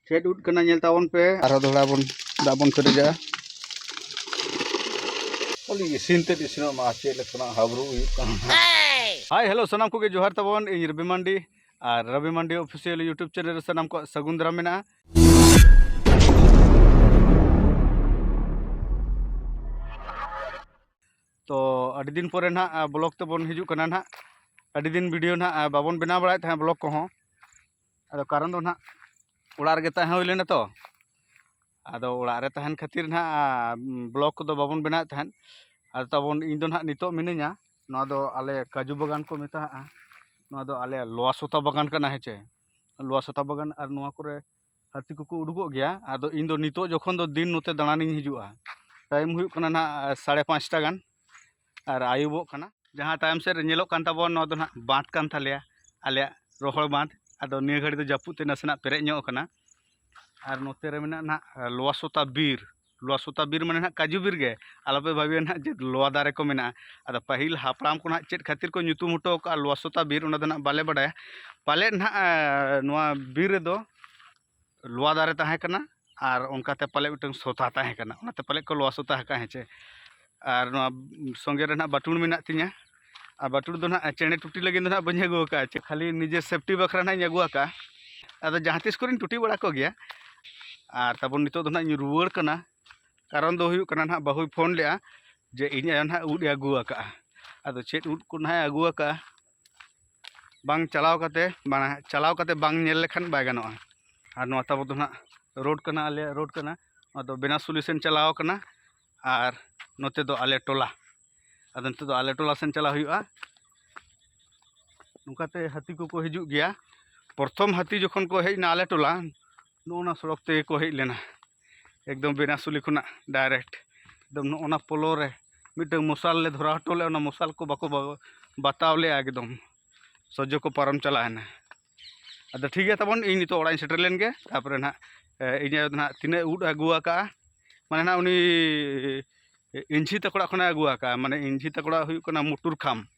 ᱪᱮᱫ ᱩᱫ ᱠᱟᱱᱟ ᱧᱮᱞ ᱛᱟᱵᱚᱱ ᱯᱮ ᱟᱨᱦᱚᱸ ᱫᱚᱦᱲᱟ ᱵᱚᱱ ᱫᱟᱜ ᱵᱚᱱ ᱯᱮᱨᱮᱡᱟ ᱠᱷᱟᱹᱞᱤ ᱤᱥᱤᱱ ᱛᱮᱫ ᱤᱥᱤᱱᱚᱜ ᱢᱟ ᱪᱮᱫ ᱞᱮᱠᱟᱱᱟᱜ ᱦᱟᱵᱨᱩ ᱦᱩᱭᱩᱜ ᱠᱟᱱᱟ ᱦᱟᱭ ᱦᱮᱞᱳ ᱥᱟᱱᱟᱢ ᱠᱚᱜᱮ ᱡᱚᱦᱟᱨ ᱛᱟᱵᱚᱱ ᱤᱧ ᱨᱚᱵᱤ ᱢᱟᱱᱰᱤ ᱟᱨ Robi Mandi official YouTube channel ᱨᱮ ᱥᱟᱱᱟᱢ ᱠᱚᱣᱟᱜ ᱥᱟᱹᱜᱩᱱ ᱫᱟᱨᱟᱢ ᱢᱮᱱᱟᱜᱼᱟ ᱛᱚ ᱟᱹᱰᱤ ᱫᱤᱱ ᱯᱚᱨᱮ ᱱᱟᱜ ᱵᱞᱚᱜ ᱛᱮᱵᱚᱱ ᱦᱤᱡᱩᱜ ᱠᱟᱱᱟ ᱱᱟᱜ ᱟᱹᱰᱤ ᱫᱤᱱ ᱵᱷᱤᱰᱤᱭᱳ ᱱᱟᱜ ᱵᱟᱵᱚᱱ ᱵᱮᱱᱟᱣ ᱵᱟᱲᱟᱭᱮᱫ ᱛᱟᱦᱮᱸᱫ ᱵᱞᱚᱜ ᱠᱚᱦᱚᱸ ᱟᱫᱚ ᱠᱟᱨᱚᱱ ᱫᱚ ᱱᱟᱦᱟᱜ ᱚᱲᱟᱜ ᱨᱮᱜᱮ ᱛᱟᱦᱮᱸ ᱦᱩᱭ ᱞᱮᱱᱟ ᱛᱚ ᱟᱫᱚ ᱚᱲᱟᱜ ᱨᱮ ᱛᱟᱦᱮᱱ ᱠᱷᱟᱹᱛᱤᱨ ᱱᱟᱦᱟᱜ ᱵᱞᱚᱠ ᱠᱚᱫᱚ ᱵᱟᱵᱚᱱ ᱵᱮᱱᱟᱣᱮᱫ ᱛᱟᱦᱮᱸᱫ ᱟᱫᱚ ᱛᱟᱵᱚᱱ ᱤᱧ ᱫᱚ ᱱᱟᱦᱟᱜ ᱱᱤᱛᱚᱜ ᱢᱤᱱᱟᱹᱧᱟ ᱱᱚᱣᱟ ᱫᱚ ᱟᱞᱮ ᱠᱟᱹᱡᱩ ᱵᱟᱜᱟᱱ ᱠᱚ ᱢᱮᱛᱟᱜᱼᱟ ᱱᱚᱣᱟ ᱫᱚ ᱟᱞᱮ ᱞᱚᱣᱟ ᱥᱚᱛᱟ ᱵᱟᱜᱟᱱ ᱠᱟᱱᱟ ᱦᱮᱸ ᱪᱮ ᱞᱚᱣᱟ ᱥᱚᱛᱟ ᱵᱟᱜᱟᱱ ᱟᱨ ᱱᱚᱣᱟ ᱠᱚᱨᱮ ᱦᱟᱹᱛᱤ ᱠᱚᱠᱚ ᱩᱰᱩᱠᱚᱜ ᱜᱮᱭᱟ ᱟᱫᱚ ᱤᱧ ᱫᱚ ᱱᱤᱛᱚᱜ ᱡᱚᱠᱷᱚᱱ ᱫᱚ ᱫᱤᱱ ᱱᱚᱛᱮ ᱫᱟᱬᱟᱱᱤᱧ ᱦᱤᱡᱩᱜᱼᱟ ᱴᱟᱭᱤᱢ ᱦᱩᱭᱩᱜ ᱠᱟᱱᱟ ᱱᱟᱦᱟᱜ ᱥᱟᱲᱮ ᱯᱟᱸᱪᱴᱟ ᱜᱟᱱ ᱟᱨ ᱟᱹᱭᱩᱵᱚᱜ ᱠᱟᱱᱟ ᱡᱟᱦᱟᱸ ᱛᱟᱭᱚᱢ ᱥᱮᱫ ᱨᱮ ᱧᱮᱞᱚᱜ ᱠᱟᱱ ᱛᱟᱵᱚᱱ ᱱᱚᱣᱟ ᱫᱚ ᱱᱟᱜ ᱵᱟᱸᱫᱽ ᱠᱟᱱ ᱛᱟᱞᱮᱭᱟ ᱟᱞᱮᱭᱟᱜ ᱨᱚᱦᱚᱲ ᱵᱟᱸᱫᱽ ᱟᱫᱚ ᱱᱤᱭᱟᱹ ᱜᱷᱟᱹᱲᱤ ᱫᱚ ᱡᱟᱹᱯᱩᱫ ᱛᱮ ᱱᱟᱥᱮᱱᱟᱜ ᱯᱮᱨᱮᱡ ᱧᱚᱜ ᱠᱟᱱᱟ ᱟᱨ ᱱᱚᱛᱮ ᱨᱮ ᱢᱮᱱᱟᱜᱼᱟ ᱱᱟᱜ ᱞᱚᱣᱟ ᱥᱚᱛᱟ ᱵᱤᱨ ᱞᱚᱣᱟ ᱥᱚᱛᱟ ᱵᱤᱨ ᱢᱟᱱᱮ ᱱᱟᱜ ᱠᱟᱹᱡᱩ ᱵᱤᱨ ᱜᱮ ᱟᱞᱚᱯᱮ ᱵᱷᱟᱹᱵᱤᱭᱟ ᱱᱟᱜ ᱡᱮ ᱞᱚᱣᱟ ᱫᱟᱨᱮ ᱠᱚ ᱢᱮᱱᱟᱜᱼᱟ ᱟᱫᱚ ᱯᱟᱹᱦᱤᱞ ᱦᱟᱯᱲᱟᱢ ᱠᱚ ᱱᱟᱜ ᱪᱮᱫ ᱠᱷᱟᱹᱛᱤᱨ ᱠᱚ ᱧᱩᱛᱩᱢ ᱦᱚᱴᱚ ᱠᱟᱜᱼᱟ ᱞᱚᱣᱟ ᱥᱚᱛᱟ ᱵᱤᱨ ᱚᱱᱟ ᱫᱚ ᱱᱟᱜ ᱵᱟᱞᱮ ᱵᱟᱰᱟᱭᱟ ᱯᱟᱞᱮᱫ ᱱᱟᱜ ᱱᱚᱣᱟ ᱵᱤᱨ ᱨᱮᱫᱚ ᱞᱚᱣᱟ ᱫᱟᱨᱮ ᱛᱟᱦᱮᱸ ᱠᱟᱱᱟ ᱟᱨ ᱚᱱᱠᱟ ᱛᱮ ᱯᱟᱞᱮ ᱢᱤᱫᱴᱟᱝ ᱥᱚᱛᱟ ᱛᱟᱦᱮᱸ ᱠᱟᱱᱟ ᱚᱱᱟ ᱛᱮ ᱯᱟᱞᱮ ᱠᱚ ᱞᱚᱣᱟ ᱥᱚᱛᱟ ᱟᱠᱟᱫᱼᱟ ᱦᱮᱸ ᱪᱮ ᱟᱨ ᱱᱚᱣᱟ ᱥᱚᱸᱜᱮ ᱨᱮ ᱱᱟᱦᱟᱜ ᱵᱟᱹᱴᱩᱞ ᱢᱮᱱᱟᱜ ᱛᱤᱧᱟᱹ ᱟᱨ ᱵᱟᱹᱴᱩᱞ ᱫᱚ ᱱᱟᱦᱟᱜ ᱪᱮᱬᱮ ᱴᱩᱴᱤ ᱞᱟᱹᱜᱤᱫ ᱫᱚ ᱱᱟᱦᱟᱜ ᱵᱟᱹᱧ ᱟᱹᱜᱩ ᱟᱠᱟᱫᱼᱟ ᱪᱮ ᱠᱷᱟᱹᱞᱤ ᱱᱤᱡᱮ ᱥᱮᱯᱷᱴᱤ ᱵᱟᱠᱷᱨᱟ ᱱᱟᱦᱟᱜ ᱤᱧ ᱟᱹᱜᱩ ᱟᱠᱟᱫᱼᱟ ᱟᱫᱚ ᱡᱟᱦᱟᱸ ᱛᱤᱥ ᱠᱚᱨᱮᱧ ᱴᱩᱴᱤ ᱵᱟᱲᱟ ᱠᱚᱜᱮᱭᱟ ᱟᱨ ᱛᱟᱵᱚᱱ ᱱᱤᱛᱚᱜ ᱫᱚ ᱱᱟᱦᱟᱜ ᱤᱧ ᱨᱩᱣᱟᱹᱲ ᱠᱟᱱᱟ ᱠᱟᱨᱚᱱ ᱫᱚ ᱦᱩᱭᱩᱜ ᱠᱟᱱᱟ ᱱᱟᱦᱟᱜ ᱵᱟᱹᱦᱩᱭ ᱯᱷᱳᱱ ᱞᱮᱫᱼᱟ ᱡᱮ ᱤᱧ ᱟᱭᱳ ᱱᱟᱦᱟᱜ ᱩᱫ ᱮ ᱟᱹᱜᱩ ᱟᱠᱟᱫᱼᱟ ᱟᱫᱚ ᱪᱮᱫ ᱩᱫ ᱠᱚ ᱱᱟᱦᱟᱜ ᱮ ᱟᱹᱜᱩ ᱟᱠᱟᱫᱼᱟ ᱵᱟᱝ ᱪᱟᱞᱟᱣ ᱠᱟᱛᱮ ᱢᱟᱱᱮ ᱪᱟᱞᱟᱣ ᱠᱟᱛᱮ ᱵᱟᱝ ᱧᱮᱞ ᱞᱮᱠᱷᱟᱱ ᱵᱟᱭ ᱜᱟᱱᱚᱜᱼᱟ ᱟᱨ ᱱᱚᱣᱟ ᱛᱟᱵᱚ ᱫᱚ ᱱᱟᱜ ᱨᱳᱰ ᱠᱟᱱᱟ ᱟᱞᱮᱭᱟᱜ ᱨᱳᱰ ᱠᱟᱱᱟ ᱱᱚᱣᱟ ᱫᱚ ᱵᱮᱱᱟᱥᱩᱞᱤ ᱥᱮᱱ ᱪᱟᱞᱟᱣ ᱠᱟᱱᱟ ᱟᱨ ᱱᱚᱛᱮ ᱫᱚ ᱟᱞᱮ ᱴᱚᱞᱟ ᱟᱫᱚ ᱱᱤᱛᱚᱜ ᱫᱚ ᱟᱞᱮ ᱴᱚᱞᱟ ᱥᱮᱱ ᱪᱟᱞᱟᱜ ᱦᱩᱭᱩᱜᱼᱟ ᱱᱚᱝᱠᱟᱛᱮ ᱦᱟᱹᱛᱤ ᱠᱚᱠᱚ ᱦᱤᱡᱩᱜ ᱜᱮᱭᱟ ᱯᱨᱚᱛᱷᱚᱢ ᱦᱟᱹᱛᱤ ᱡᱚᱠᱷᱚᱱ ᱠᱚ ᱦᱮᱡ ᱮᱱᱟ ᱟᱞᱮ ᱴᱚᱞᱟ ᱱᱚᱜᱼᱚ ᱱᱟ ᱥᱚᱲᱚᱠ ᱛᱮᱜᱮ ᱠᱚ ᱦᱮᱡ ᱞᱮᱱᱟ ᱮᱠᱫᱚᱢ ᱵᱮᱱᱟᱥᱩᱞᱤ ᱠᱷᱚᱱᱟᱜ ᱰᱟᱭᱨᱮᱠᱴ ᱮᱠᱫᱚᱢ ᱱᱚᱜᱼᱚ ᱱᱟ ᱯᱳᱞᱳ ᱨᱮ ᱢᱤᱫᱴᱟᱹᱝ ᱢᱚᱥᱟᱞ ᱞᱮ ᱫᱷᱚᱨᱟᱣ ᱦᱚᱴᱚ ᱞᱮᱫᱼᱟ ᱚᱱᱟ ᱢᱚᱥᱟᱞ ᱠᱚ ᱵᱟᱠᱚ ᱵᱟᱛᱟᱣ ᱞᱮᱫᱼᱟ ᱮᱠᱫᱚᱢ ᱥᱚᱡᱽᱡᱚ ᱠᱚ ᱯᱟᱨᱚᱢ ᱪᱟᱞᱟᱣᱮᱱᱟ ᱟᱫᱚ ᱴᱷᱤᱠ ᱜᱮᱭᱟ ᱛᱟᱵᱚᱱ ᱤᱧ ᱱᱤᱛᱚᱜ ᱚᱲᱟᱜ ᱤᱧ ᱥᱮᱴᱮᱨ ᱞᱮᱱ ᱜᱮ ᱛᱟᱨᱯᱚᱨᱮ ᱱᱟᱦᱟᱜ ᱤᱧ ᱟᱭᱳ ᱫᱚ ᱱᱟᱦᱟᱜ ᱛᱤᱱᱟᱹᱜ ᱩᱫ ᱟᱹᱜᱩ ᱟᱠᱟᱫᱼᱟ ᱢᱟᱱᱮ ᱱᱟᱦᱟᱜ ᱩᱱᱤ ᱤᱧᱡᱷᱤ ᱛᱟᱠᱚ ᱚᱲᱟᱜ ᱠᱷᱚᱱᱮ ᱟᱹᱜᱩ ᱟᱠᱟᱫᱼᱟ ᱢᱟᱱᱮ ᱤᱧᱡᱷᱤ ᱛᱟᱠᱚ ᱚᱲᱟᱜ ᱦᱩᱭᱩᱜ ᱠᱟᱱᱟ ᱢᱩᱴᱩᱨ ᱠᱷᱟᱢ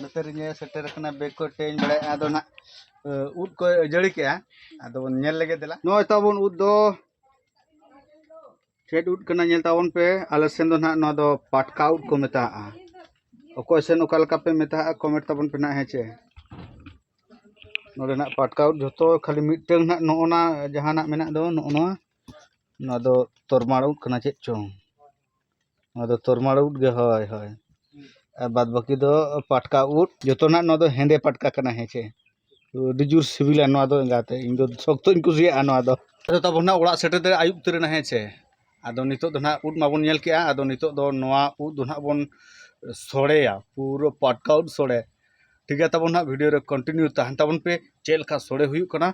ᱱᱚᱛᱮ ᱨᱮᱧ ᱥᱮᱴᱮᱨ ᱟᱠᱟᱱᱟ ᱵᱮᱜᱽ ᱠᱚ ᱴᱮᱧ ᱵᱟᱲᱟᱭᱮᱫᱼᱟ ᱟᱫᱚ ᱱᱟᱜ ᱩᱫ ᱠᱚ ᱡᱟᱹᱲᱤ ᱠᱮᱜᱼᱟ ᱟᱫᱚ ᱵᱚᱱ ᱧᱮᱞ ᱞᱮᱜᱮ ᱫᱮᱞᱟ ᱱᱚᱜᱼᱚᱭ ᱛᱟᱵᱚᱱ ᱩᱫ ᱫᱚ ᱪᱮᱫ ᱩᱫ ᱠᱟᱱᱟ ᱧᱮᱞ ᱛᱟᱵᱚᱱ ᱯᱮ ᱟᱞᱮ ᱥᱮᱱ ᱫᱚ ᱱᱟᱜ ᱱᱚᱣᱟ ᱫᱚ ᱯᱟᱴᱠᱟ ᱩᱫ ᱠᱚ ᱢᱮᱛᱟᱜᱼᱟ ᱚᱠᱚᱭ ᱥᱮᱱ ᱚᱠᱟ ᱞᱮᱠᱟ ᱯᱮ ᱢᱮᱛᱟᱜᱼᱟ ᱠᱚᱢᱮᱱᱴ ᱛᱟᱵᱚᱱ ᱯᱮ ᱱᱟᱜ ᱦᱮᱸ ᱪᱮ ᱱᱚᱰᱮ ᱱᱟᱜ ᱯᱟᱴᱠᱟ ᱩᱫ ᱡᱷᱚᱛᱚ ᱠᱷᱟᱹᱞᱤ ᱢᱤᱫᱴᱟᱹᱝ ᱱᱟᱜ ᱱᱚᱜᱼᱚ ᱱᱟ ᱡᱟᱦᱟᱸ ᱱᱟᱜ ᱢᱮᱱᱟᱜ ᱫᱚ ᱱᱚᱜᱼᱚ ᱱᱚᱣᱟ ᱱᱚᱣᱟ ᱫᱚ ᱛᱚᱨᱢᱟᱲ ᱩᱫ ᱠᱟᱱᱟ ᱪᱮᱫ ᱪᱚᱝ ᱱᱚᱣᱟ ᱫᱚ ᱛᱚᱨᱢᱟᱲ ᱩᱫ ᱜᱮ ᱦᱳᱭ ᱦᱳᱭ ᱟᱨ ᱵᱟᱫ ᱵᱟᱹᱠᱤ ᱫᱚ ᱯᱟᱴᱠᱟ ᱩᱫ ᱡᱚᱛᱚᱱᱟᱜ ᱱᱚᱣᱟ ᱫᱚ ᱦᱮᱸᱫᱮ ᱯᱟᱴᱠᱟ ᱠᱟᱱᱟ ᱦᱮᱸᱥᱮ ᱟᱹᱰᱤ ᱡᱳᱨ ᱥᱤᱵᱤᱞᱟ ᱱᱚᱣᱟ ᱫᱚ ᱮᱸᱜᱟᱛᱮ ᱤᱧ ᱫᱚ ᱥᱚᱠᱛᱚᱧ ᱠᱩᱥᱤᱭᱟᱜᱼᱟ ᱱᱚᱣᱟ ᱫᱚ ᱟᱫᱚ ᱛᱟᱵᱚᱱ ᱱᱟᱜ ᱚᱲᱟᱜ ᱥᱮᱴᱮᱨ ᱛᱮ ᱟᱹᱭᱩᱵ ᱩᱛᱟᱹᱨ ᱮᱱᱟ ᱦᱮᱸᱥᱮ ᱟᱫᱚ ᱱᱤᱛᱚᱜ ᱫᱚ ᱱᱟᱜ ᱩᱫ ᱢᱟᱵᱚᱱ ᱧᱮᱞ ᱠᱮᱜᱼᱟ ᱟᱫᱚ ᱱᱤᱛᱚᱜ ᱫᱚ ᱱᱚᱣᱟ ᱩᱫ ᱫᱚ ᱱᱟᱜ ᱵᱚᱱ ᱥᱚᱲᱮᱭᱟ ᱯᱩᱨᱟᱹ ᱯᱟᱴᱠᱟ ᱩᱫ ᱥᱚᱲᱮ ᱴᱷᱤᱠ ᱜᱮᱭᱟ ᱛᱟᱵᱚᱱ ᱦᱟᱸᱜ ᱵᱷᱤᱰᱤᱭᱳ ᱨᱮ ᱠᱚᱱᱴᱤᱱᱤᱭᱩ ᱛᱟᱦᱮᱱ ᱛᱟᱵᱚᱱ ᱯᱮ ᱪᱮᱫ ᱞᱮᱠᱟ ᱥᱚᱲᱮ ᱦᱩᱭᱩᱜ ᱠᱟᱱᱟ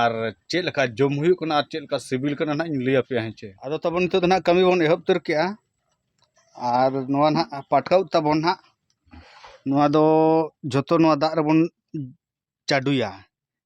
ᱟᱨ ᱪᱮᱫ ᱞᱮᱠᱟ ᱡᱚᱢ ᱦᱩᱭᱩᱜ ᱠᱟᱱᱟ ᱟᱨ ᱪᱮᱫ ᱞᱮᱠᱟ ᱥᱤᱵᱤᱞ ᱠᱟᱱᱟ ᱦᱟᱸᱜ ᱤᱧ ᱞᱟᱹᱭ ᱟᱯᱮᱭᱟ ᱦᱮᱸ ᱪᱮ ᱟᱫᱚ ᱛᱟᱵᱚᱱ ᱱᱤᱛᱚᱜ ᱫᱚ ᱦᱟᱸᱜ ᱠᱟᱹᱢᱤ ᱵᱚᱱ ᱮᱦᱚᱵ ᱩᱛᱟᱹᱨ ᱠᱮᱜᱼᱟ ᱟᱨ ᱱᱚᱣᱟ ᱦᱟᱸᱜ ᱯᱟᱴᱠᱟ ᱩᱫ ᱛᱟᱵᱚᱱ ᱦᱟᱸᱜ ᱱᱚᱣᱟ ᱫᱚ ᱡᱚᱛᱚ ᱱᱚᱣᱟ ᱫᱟᱜ ᱨᱮᱵᱚᱱ ᱪᱟᱰᱚᱭᱟ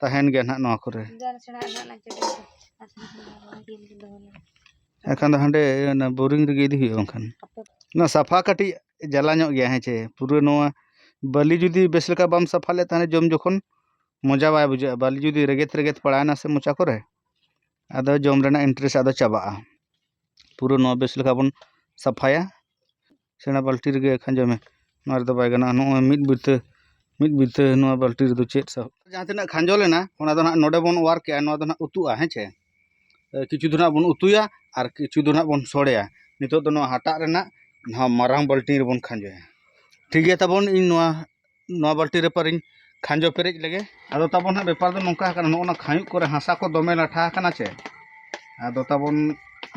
ᱛᱟᱦᱮᱱ ᱜᱮᱭᱟ ᱱᱟᱦᱟᱜ ᱱᱚᱣᱟ ᱠᱚᱨᱮ ᱮᱱᱠᱷᱟᱱ ᱫᱚ ᱦᱟᱸᱰᱮ ᱚᱱᱟ ᱵᱳᱨᱤᱝ ᱨᱮᱜᱮ ᱤᱫᱤ ᱦᱩᱭᱩᱜᱼᱟ ᱵᱟᱝᱠᱷᱟᱱ ᱱᱚᱣᱟ ᱥᱟᱯᱷᱟ ᱠᱟᱹᱴᱤᱡ ᱡᱟᱞᱟ ᱧᱚᱜ ᱜᱮᱭᱟ ᱦᱮᱸ ᱪᱮ ᱯᱩᱨᱟᱹ ᱱᱚᱣᱟ ᱵᱟᱹᱞᱤ ᱡᱩᱫᱤ ᱵᱮᱥ ᱞᱮᱠᱟ ᱵᱟᱢ ᱥᱟᱯᱷᱟ ᱞᱮᱫ ᱛᱟᱦᱚᱞᱮ ᱡᱚᱢ ᱡᱚᱠᱷᱚᱱ ᱢᱚᱡᱟ ᱵᱟᱭ ᱵᱩᱡᱷᱟᱹᱜᱼᱟ ᱵᱟᱹᱞᱤ ᱡᱩᱫᱤ ᱨᱮᱜᱮᱛ ᱨᱮᱜᱮᱛ ᱯᱟᱲᱟᱣᱮᱱᱟ ᱥᱮ ᱢᱚᱪᱟ ᱠᱚᱨᱮ ᱟᱫᱚ ᱡᱚᱢ ᱨᱮᱱᱟᱜ ᱤᱱᱴᱟᱨᱮᱥᱴ ᱟᱫᱚ ᱪᱟᱵᱟᱜᱼᱟ ᱯᱩᱨᱟᱹ ᱱᱚᱣᱟ ᱵᱮᱥ ᱞᱮᱠᱟ ᱵᱚᱱ ᱥᱟᱯᱷᱟᱭᱟ ᱥᱮᱬᱟ ᱵᱟᱹᱞᱛᱤ ᱨᱮᱜᱮ ᱠᱷᱟᱸᱡᱚᱭ ᱢᱮ ᱱᱚᱣᱟ ᱨᱮᱫᱚ ᱵᱟᱭ ᱜᱟᱱᱚᱜᱼᱟ ᱱᱚᱜᱼᱚᱭ ᱢᱤᱫ ᱵᱤᱛᱟᱹ ᱢᱤᱫ ᱵᱤᱛᱟᱹ ᱱᱚᱣᱟ ᱵᱟᱹᱞᱛᱤ ᱨᱮᱫᱚ ᱪᱮᱫ ᱥᱟᱵ ᱡᱟᱦᱟᱸ ᱛᱤᱱᱟᱹᱜ ᱠᱷᱟᱸᱡᱚ ᱞᱮᱱᱟ ᱚᱱᱟ ᱫᱚ ᱱᱟᱜ ᱱᱚᱰᱮ ᱵᱚᱱ ᱚᱣᱟᱨ ᱠᱮᱜᱼᱟ ᱱᱚᱣᱟ ᱫᱚ ᱱᱟᱜ ᱩᱛᱩᱜᱼᱟ ᱦᱮᱸ ᱪᱮ ᱠᱤᱪᱷᱩ ᱫᱚ ᱱᱟᱜ ᱵᱚᱱ ᱩᱛᱩᱭᱟ ᱟᱨ ᱠᱤᱪᱷᱩ ᱫᱚ ᱱᱟᱜ ᱵᱚᱱ ᱥᱚᱲᱮᱭᱟ ᱱᱤᱛᱚᱜ ᱫᱚ ᱱᱚᱣᱟ ᱦᱟᱴᱟᱜ ᱨᱮᱱᱟᱜ ᱱᱚᱣᱟ ᱢᱟᱨᱟᱝ ᱵᱟᱹᱞᱛᱤ ᱨᱮᱵᱚᱱ ᱠᱷᱟᱸᱡᱚᱭᱟ ᱴᱷᱤᱠ ᱜᱮᱭᱟ ᱛᱟᱵᱚᱱ ᱤᱧ ᱱᱚᱣᱟ ᱱᱚᱣᱟ ᱵᱟᱹᱞᱴᱤ ᱨᱮ ᱯᱟᱨᱤᱧ ᱠᱷᱟᱸᱡᱚ ᱯᱮᱨᱮᱡ ᱞᱮᱜᱮ ᱟᱫᱚ ᱛᱟᱵᱚᱱ ᱦᱟᱸᱜ ᱵᱮᱯᱟᱨ ᱫᱚ ᱱᱚᱝᱠᱟ ᱟᱠᱟᱱᱟ ᱱᱚᱜᱼᱚ ᱱᱟ ᱠᱷᱟᱸᱭᱩᱜ ᱠᱚᱨᱮ ᱦᱟᱥᱟ ᱠᱚ ᱫᱚᱢᱮ ᱞᱟᱴᱷᱟ ᱟᱠᱟᱱᱟ ᱪᱮ ᱟᱫᱚ ᱛᱟᱵᱚᱱ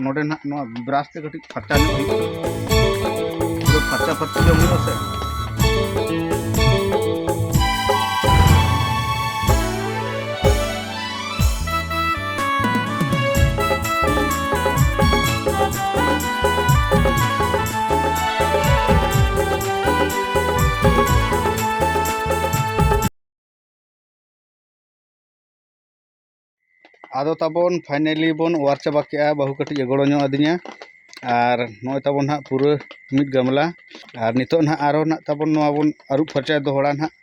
ᱱᱚᱰᱮ ᱱᱟᱜ ᱱᱚᱣᱟ ᱵᱨᱟᱥ ᱛᱮ ᱠᱟᱹᱴᱤᱡ ᱯᱷᱟᱨᱪᱟ ᱧᱚᱜ ᱦᱩᱭᱩᱜᱼᱟ ᱯᱷᱟᱨᱪᱟ ᱯᱷᱟᱨᱪᱟ ᱡᱚᱢ ᱦᱩᱭᱩᱜᱼᱟ ᱥᱮ ᱟᱫᱚ ᱛᱟᱵᱚᱱ ᱯᱷᱟᱭᱱᱮᱞᱤ ᱵᱚᱱ ᱚᱣᱟᱨ ᱪᱟᱵᱟ ᱠᱮᱜᱼᱟ ᱵᱟᱹᱦᱩ ᱠᱟᱹᱴᱤᱡ ᱮ ᱜᱚᱲᱚ ᱧᱚᱜ ᱟᱹᱫᱤᱧᱟ ᱟᱨ ᱱᱚᱜᱼᱚᱭ ᱛᱟᱵᱚᱱ ᱱᱟᱦᱟᱜ ᱯᱩᱨᱟᱹ ᱢᱤᱫ ᱜᱟᱢᱞᱟ ᱟᱨ ᱱᱤᱛᱚᱜ ᱱᱟᱦᱟᱜ ᱟᱨᱚ ᱱᱟᱦᱟᱜ ᱛᱟᱵᱚᱱ ᱱᱚᱣᱟ ᱵᱚᱱ ᱟᱹᱨᱩᱵ ᱯᱷᱟᱨᱪᱟᱭᱟ ᱫᱚᱦᱲᱟ ᱱᱟᱦᱟᱜ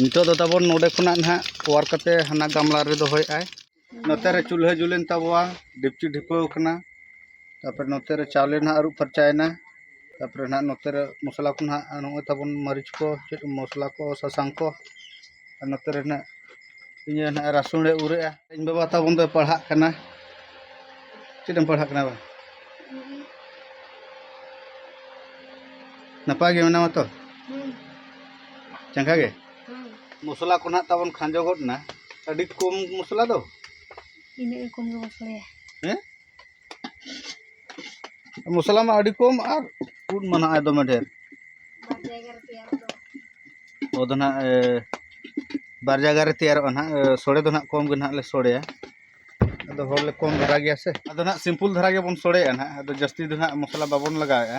ᱱᱤᱛᱚᱜ ᱫᱚ ᱛᱟᱵᱚᱱ ᱱᱚᱰᱮ ᱠᱷᱚᱱᱟᱜ ᱱᱟᱦᱟᱜ ᱚᱣᱟᱨ ᱠᱟᱛᱮ ᱦᱟᱱᱟ ᱜᱟᱢᱞᱟ ᱨᱮ ᱫᱚᱦᱚᱭᱮᱫ ᱟᱭ ᱱᱚᱛᱮ ᱨᱮ ᱪᱩᱞᱦᱟᱹ ᱡᱩᱞᱮᱱ ᱛᱟᱵᱚᱣᱟ ᱰᱮᱠᱪᱤ ᱰᱷᱤᱯᱟᱹᱣ ᱠᱟᱱᱟ ᱛᱟᱨᱯᱚᱨᱮ ᱱᱚᱛᱮ ᱨᱮ ᱪᱟᱣᱞᱮ ᱱᱟᱦᱟᱜ ᱟᱹᱨᱩᱵ ᱯᱷᱟᱨᱪᱟᱭᱮᱱᱟ ᱛᱟᱨᱯᱚᱨᱮ ᱱᱟᱦᱟᱜ ᱱᱚᱛᱮ ᱨᱮ ᱢᱚᱥᱞᱟ ᱠᱚ ᱱᱟᱦᱟᱜ ᱱᱚᱜᱼᱚᱭ ᱛᱟᱵᱚᱱ ᱢᱟᱹᱨᱤᱪ ᱠᱚ ᱪᱮᱫ ᱢᱚᱥᱞᱟ ᱠᱚ ᱥᱟᱥᱟᱝ ᱠᱚ ᱟᱨ ᱱᱚᱛᱮ ᱨᱮ ᱱᱟᱦᱟᱜ ᱤᱧ ᱦᱚᱸ ᱱᱟᱦᱟᱜ ᱨᱟᱹᱥᱩᱱᱮ ᱩᱨᱮᱜᱼᱟ ᱤᱧ ᱵᱟᱵᱟ ᱛᱟᱵᱚᱱ ᱫᱚᱭ ᱯᱟᱲᱦᱟᱜ ᱠᱟᱱᱟ ᱪᱮᱫ ᱮᱢ ᱯᱟᱲᱦᱟᱜ ᱠᱟᱱᱟ ᱵᱟ ᱱᱟᱯᱟᱭ ᱜᱮ ᱢᱮᱱᱟᱢᱟ ᱛᱚ ᱪᱟᱸᱜᱟ ᱜᱮ ᱢᱚᱥᱞᱟ ᱠᱚ ᱱᱟᱦᱟᱜ ᱛᱟᱵᱚᱱ ᱠᱷᱟᱸᱡᱚ ᱜᱚᱫ ᱮᱱᱟ ᱟᱹᱰᱤ ᱠᱚᱢ ᱢᱚᱥᱞᱟ ᱫᱚ ᱤᱱᱟᱹᱜ ᱜᱮ ᱠᱚᱢ ᱜᱮ ᱢᱚᱥᱞᱟᱭᱟ ᱦᱮᱸ ᱢᱚᱥᱞᱟ ᱢᱟ ᱟᱹᱰᱤ ᱠᱚᱢ ᱟᱨ ᱩᱫ ᱢᱟ ᱱᱟᱦᱟᱜ ᱫᱚᱢᱮ ᱰᱷᱮᱨ ᱚ ᱫᱚ ᱱᱟᱦᱟᱜ ᱵᱟᱨ ᱡᱟᱭᱜᱟ ᱨᱮ ᱛᱮᱭᱟᱨᱚᱜᱼᱟ ᱱᱟᱦᱟᱜ ᱥᱚᱲᱮ ᱫᱚ ᱱᱟᱦᱟᱜ ᱠᱚᱢ ᱜᱮ ᱱᱟᱦᱟᱜ ᱞᱮ ᱥᱚᱲᱮᱭᱟ ᱟᱫᱚ ᱦᱚᱲ ᱞᱮ ᱠᱚᱢ ᱫᱷᱟᱨᱟ ᱜᱮᱭᱟ ᱥᱮ ᱟᱫᱚ ᱱᱟᱦᱟᱜ ᱥᱤᱢᱯᱩᱞ ᱫᱷᱟᱨᱟ ᱜᱮᱵᱚᱱ ᱥᱚᱲᱮᱭᱟ ᱱᱟᱦᱟᱜ ᱟᱫᱚ ᱡᱟᱹᱥᱛᱤ ᱫᱚ ᱱᱟᱦᱟᱜ ᱢᱚᱥᱞᱟ ᱵᱟᱵᱚᱱ ᱞᱟᱜᱟᱣᱮᱜᱼᱟ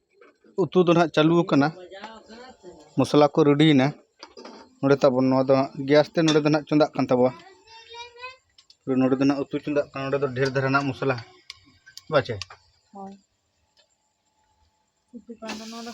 ᱩᱛᱩ ᱫᱚ ᱱᱟᱦᱟᱜ ᱪᱟᱹᱞᱩ ᱟᱠᱟᱱᱟ ᱢᱚᱥᱞᱟ ᱠᱚ ᱨᱮᱰᱤᱭᱮᱱᱟ ᱱᱚᱰᱮ ᱛᱟᱵᱚᱱ ᱱᱚᱣᱟ ᱫᱚ ᱜᱮᱥ ᱛᱮ ᱱᱚᱰᱮ ᱫᱚ ᱱᱟᱦᱟᱜ ᱪᱚᱸᱫᱟᱜ ᱠᱟᱱ ᱛᱟᱵᱚᱣᱟ ᱱᱚᱰᱮ ᱫᱚ ᱱᱟᱦᱟᱜ ᱩᱛᱩ ᱪᱚᱸᱫᱟᱜ ᱠᱟᱱᱟ ᱱᱚᱰᱮ ᱫᱚ ᱰᱷᱮᱨ ᱫᱷᱟᱨᱟ ᱱᱟᱦᱟᱜ ᱢᱚᱥᱞᱟ ᱵᱟᱪᱮ ᱦᱳᱭ ᱩᱛᱩ ᱠᱟᱱ ᱫᱚ ᱱᱚᱣᱟ ᱫᱚ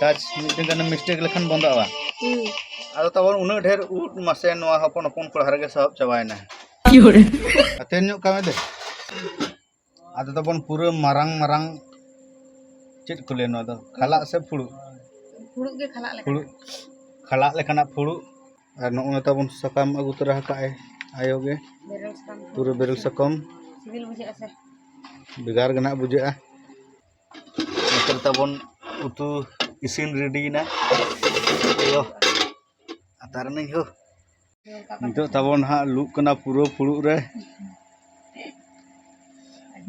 ᱴᱟᱪ ᱢᱤᱫᱴᱮᱱ ᱜᱟᱱ ᱢᱤᱥᱴᱮᱠ ᱞᱮᱠᱷᱟᱱ ᱵᱚᱱᱫᱚᱜᱼᱟ ᱟᱫᱚ ᱛᱟᱵᱚᱱ ᱩᱱᱟᱹᱜ ᱰᱷᱮᱨ ᱩᱫ ᱢᱟᱥᱮ ᱱᱚᱣᱟ ᱦᱚᱯᱚᱱ ᱦᱚᱯᱚᱱ ᱠᱚᱲᱟ ᱨᱮᱜᱮ ᱥᱟᱦᱚᱵ ᱪᱟᱵᱟᱭᱮᱱᱟ ᱟᱛᱮᱱ ᱧᱚᱜ ᱠᱟᱢᱮ ᱫᱮ ᱟᱫᱚ ᱛᱟᱵᱚᱱ ᱯᱩᱨᱟᱹ ᱢᱟᱨᱟᱝ ᱢᱟᱨᱟᱝ ᱪᱮᱫ ᱠᱚ ᱞᱟᱹᱭᱟ ᱱᱚᱣᱟ ᱫᱚ ᱠᱷᱟᱞᱟᱜ ᱥᱮ ᱯᱷᱩᱲᱩᱜ ᱯᱷᱩᱲᱩᱜ ᱜᱮ ᱠᱷᱟᱞᱟᱜ ᱞᱮᱠᱟᱱᱟᱜ ᱯᱷᱩᱲᱩᱜ ᱠᱷᱟᱞᱟᱜ ᱞᱮᱠᱟᱱᱟᱜ ᱯᱷᱩᱲᱩᱜ ᱟᱨ ᱱᱚᱜᱼᱚᱭ ᱛᱟᱵᱚᱱ ᱥᱟᱠᱟᱢ ᱟᱹᱜᱩ ᱛᱚᱨᱟ ᱟᱠᱟᱫ ᱮ ᱟᱭᱳ ᱜᱮ ᱯᱩᱨᱟᱹ ᱵᱮᱨᱮᱞ ᱥᱟᱠᱟᱢ ᱥᱤᱵᱤᱞ ᱵᱩᱡᱷᱟᱹᱜᱼᱟ ᱥᱮ ᱵᱷᱮᱜᱟᱨ ᱜᱮ ᱱᱟᱜ ᱵᱩᱡᱷᱟᱹᱜᱼᱟ ᱱᱤᱛᱚᱜ ᱛᱟᱵᱚᱱ ᱩᱛᱩ ᱤᱥᱤᱱ ᱨᱮᱰᱤᱭᱮᱱᱟ ᱱᱤᱛᱚᱜ ᱛᱟᱵᱚᱱ ᱦᱟᱸᱜ ᱞᱩᱜ ᱠᱟᱱᱟ ᱯᱩᱨᱟᱹ ᱯᱷᱩᱲᱩᱜ ᱨᱮ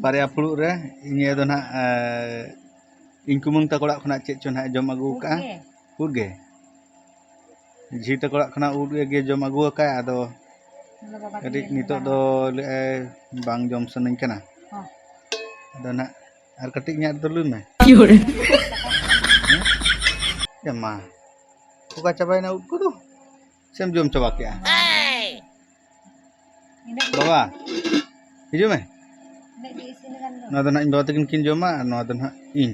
ᱵᱟᱨᱭᱟ ᱯᱷᱩᱲᱩᱜ ᱨᱮ ᱱᱤᱭᱟᱹ ᱫᱚ ᱱᱟᱜ ᱤᱧ ᱠᱩᱢᱟᱹᱝ ᱛᱟᱠᱚ ᱚᱲᱟᱜ ᱠᱷᱚᱱᱟᱜ ᱪᱮᱫ ᱪᱚ ᱱᱟᱜ ᱡᱚᱢ ᱟᱹᱜᱩ ᱟᱠᱟᱫᱼᱟ ᱩᱫ ᱜᱮ ᱡᱷᱤ ᱛᱟᱠᱚ ᱚᱲᱟᱜ ᱠᱷᱚᱱᱟᱜ ᱩᱫ ᱜᱮ ᱡᱚᱢ ᱟᱹᱜᱩ ᱟᱠᱟᱫᱼᱟ ᱟᱫᱚ ᱠᱟᱹᱴᱤᱡ ᱱᱤᱛᱚᱜ ᱫᱚ ᱞᱟᱹᱭᱮᱫᱼᱟᱭ ᱵᱟᱝ ᱡᱚᱢ ᱥᱟᱱᱟᱧ ᱠᱟᱱᱟ ᱟᱫᱚ ᱱᱟᱜ ᱟᱨ ᱠᱟᱹᱴᱤᱡ ᱤᱧᱟᱹᱜ ᱨᱮᱫᱚ ᱞᱩᱭ ᱢᱮ ᱮ ᱢᱟ ᱚᱠᱟ ᱪᱟᱵᱟᱭᱮᱱᱟ ᱩᱫ ᱠᱚᱫᱚ ᱥᱮᱢ ᱡᱚᱢ ᱪᱟᱵᱟ ᱠᱮᱜᱼᱟ ᱵᱟᱵᱟ ᱦᱤᱡᱩᱜ ᱢᱮ ᱱᱚᱣᱟ ᱫᱚ ᱱᱟᱜ ᱤᱧ ᱵᱟᱵᱟ ᱛᱟᱹᱠᱤᱱ ᱠᱤᱱ ᱡᱚᱢᱟ ᱟᱨ ᱱᱚᱣᱟ ᱫᱚ ᱱᱟᱜ ᱤᱧ